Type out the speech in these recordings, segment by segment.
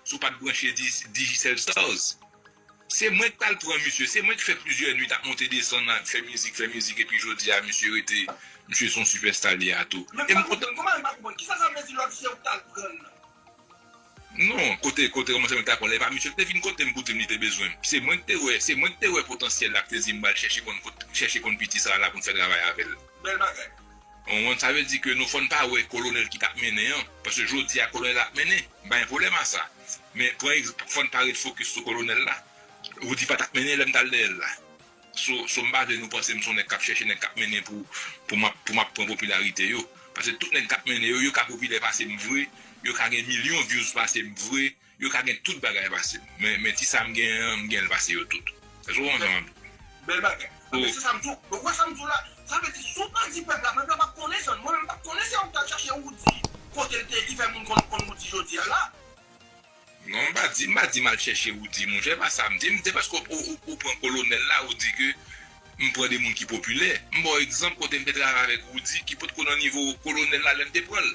Si w pat branche Digicel Stars se mwen k tal pran misye, se mwen k fè plizyè nuit ap monte desann ak fè mizik fè mizik epi jodi a misye rete misye son sipèsta li a tou. Men m pa konprann kouman m pa konprann kisa sa vle di lòt se ou k tal prann nan. Non kote kote kòmanse mwen ta konn lè pa misye l te vin kote m pou di m li te bezwen m se mwen k te wè se mwen k te wè potansyèl la k te di m bal chèche konn kot chèche konn piti sa la pou n fè travay avè l. Bèl bagay. Mwen wont sa vle di ke nou fòn pa wè kolonèl ki tap mennen an paske jodi a kolonèl ap mennen m pa gen pwoblèm a sa men pran ex fòn pa ret fokis sou kolonèl la Roody pa tap mennen lèm tal dèyèl la so so m pa vle nou panse m son nèg kap chèche nèg kap mennen pou pou map pou map pran popilarite yo paske tout nèg kap mennen yo yo ka popilè pasem vre yo ka gen milyon vyouz pasem vre Yo ka gen tout bagay pase m. Men ti sa m genyen an, m gen l pase yo tout. Èske w konprann sa m ap di w? Bèl bagay. Anben se sa m di w. Donk ou wè sa m di w la? Sa vle di si w pa di pèp la, pèp la p ap konnen sa. Mwen menm m p ap konnen se ou k t al chache Woudi kote l te ye ki fè moun konn Woudi jodi a la. Non m pa di, m pa di m al chèche Woudi monchè, pa sa m di. M se paske ou pran kolonèl la ou di ke m pran de moun ki popilè. M ba w egzanp kote m te travay avèk Woudi ki potko nan nivo kolonèl la lè m te pran l.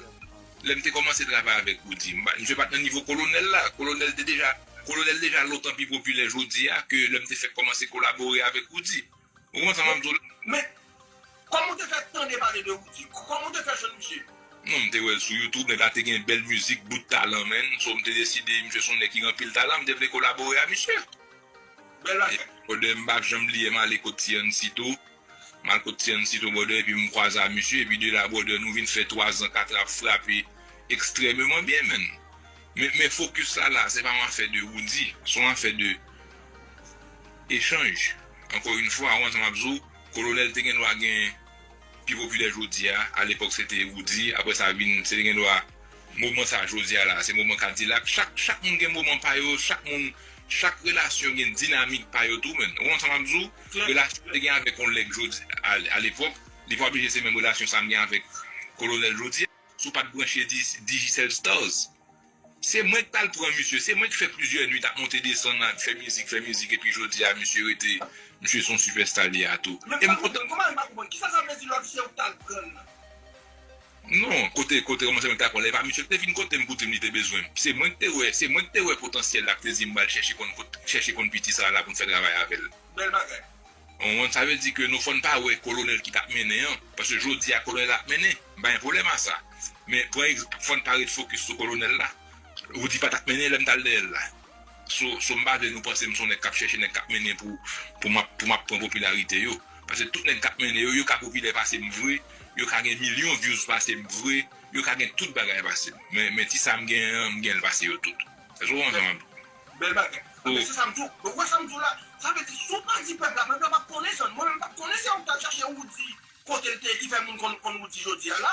Lè m te kòmanse travay avèk Roody, m pa, misye pa t nan nivo Kolonèl la. Kolonèl te deja, Kolonèl deja lontan pi popilè jodi a ke lè m te fèk kòmanse kolabore avèk Roody. Ou konprann sa m ap di w la? Men, kòman w te fè tande pale de Roody? Kòman w te fè jwenn misye? Non, m te wè l sou YouTube, nèg la te gen bèl mizik, bout talan menn. So, m te deside, misye s on nèg ki gen anpil talan, m te vle kolabore a misye. Bèl bagay. Brother, m pa janm bliye m ale kot T-Ancy tou. M al kot Tian Cito Brother epi m kwaze a misye epi de la brother nou vin fè 3 zan 4 ap frape ekstrememan byen menn. Men men fokis la la se pa yon afè de Roody, se yon afè de echanj. Ankò yn fwa ou wè sa m ap di w, Kolonèl te gen dwa gen pi popilè jodi a, alepòk se te Roody, aprè sa vin se te gen dwa. Moman sa jodia la se moman kadilak chak chak moun gen moman pa yo chak moun chak relasyon gen dinamik pa yo tou men ou konprann sa map di w relasyon m te gen avèk yon lèg jodi a lepòk li pa oblije se menm relasyon sa m gen avèk kolonèl jodia. Si w pat branche Digicel Stars se mwen ki tal pran misye se mwen ki fè plizyè nwit ap monte desann ap fè mizik fè mizik epi jodia misye rete misye son sipèsta li a tou e m kontan. Kisa sa vle di lòt se ou ki tal pran l nan. Non, kote kote kòmanse mwen ta kwè lè pa misye li te vin kotem pou dim li te bezwenm, se mwen ki te wè, se mwen ki te wè potansyèl lap te dim bal chèche konn kot chèche konn piti sa la poun fè travay avèl. Bèl bagay. Konprann sa vle di ke nou fòn pa wè kolonèl ki tap mennen an, paske jodi a kolonèl ap mennen, m pa gen pwoblèm a sa, men pran ex fòn pa ret fokis sou kolonèl la, Roody pa tap mennen lèm tal dèyèl la. So so m pa vle nou panse m son nèg kap chèche nèg kap mennen pou pou map pou map pran popilarite yo pase tout nèg kap mennen yo yo ka popilè pase m vre yo ka gen milyon vyouz pase m vre yo ka gen tout bagay pase m men men ti sa m gen an m genl pase yo tout èske ou konprann sa map di Bèl bagay. Anben se sam diw. Donk ou wè sam diw la? Sa vle di si w pa di pèp la, pèp la pap konnen san. Mwen menm pap konnen se ou k t al chache Roody kote l te ye ki fè moun konn konn Roody jodi a la.